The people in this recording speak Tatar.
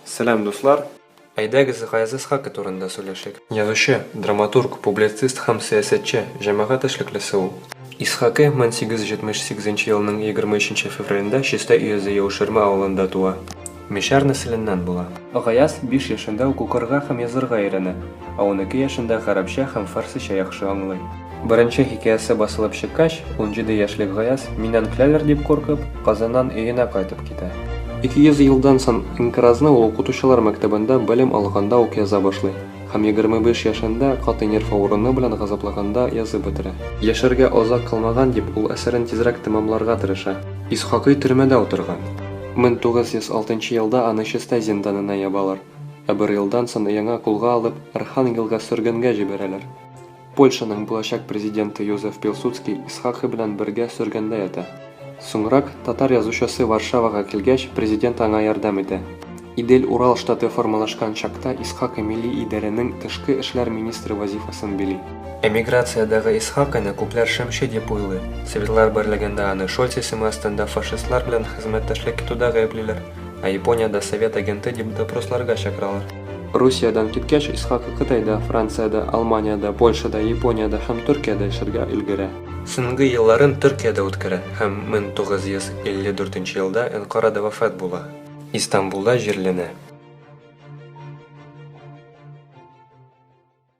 Сәлам, дуслар! Әйдәгез, Гаяз Исхакый турында сөйләшик. Язучы, драматург, публицист һәм сәясәтче, җәмәгать эшлеклесе ул. Исхакый 1878 елның 23 февралендә Чистай өязе Яуширма авылында туа. Мишәр нәселеннән була. Гаяз биш яшендә үк укырга һәм язырга өйрәнә, ә унике яшендә гарәпчә һәм фарсича яхшы аңлый. Беренче хикәясе басылып чыккач, унҗиде яшьлек Гаяз, миннән көләләр дип куркып, Казаннан өенә кайтып китә. Ике йөз елдан сон инкыразны ул укытучылар мәктәбендә белем алганда ук яза башлый һәм егерме биш яшендә катый нерв авыруны белән газапланганда язып бетерә. Яшәргә азак калмаган дип, ул әсәрен тизрәк тәмамларга тырыша. Исхакый төрмәдә утырган. Мең тугыз йөз алтынчы елда аны Чистай зинданына ябалар, ә бер елдан сон яңа кулга алып, Архангелга сөргенгә җибәрәләр. Польшаның булачак президенты Йозеф Пилсудский Исхакый белән бергә сөргендә ята. Соңрак, татар язучысы Варшавага килгәч, президент аңа ярдәм итә. Идель-Урал штаты формалашкан чакта Исхакый милли идарәнең тышкы эшләр министры вазифасын били. Эмиграциядәге Исхакыйны күпләр шымчы дип уйлый. Советлар берлегендә аны Шольц исеме астында фашистлар белән хезмәттәшлек итүдә гаеплиләр. Ә Япониядә совет агенты дип допросларга чакыралар. Русиядән киткәч, Исхаков Кытайда, Франциядә, Алманиядә, Польшада, Япониядә һәм Төркиядә эшләргә өлгерә. Соңгы елларын Төркиядә үткәрә һәм 1954 елда Әнкарада вафат була. Истанбулда җирләнә.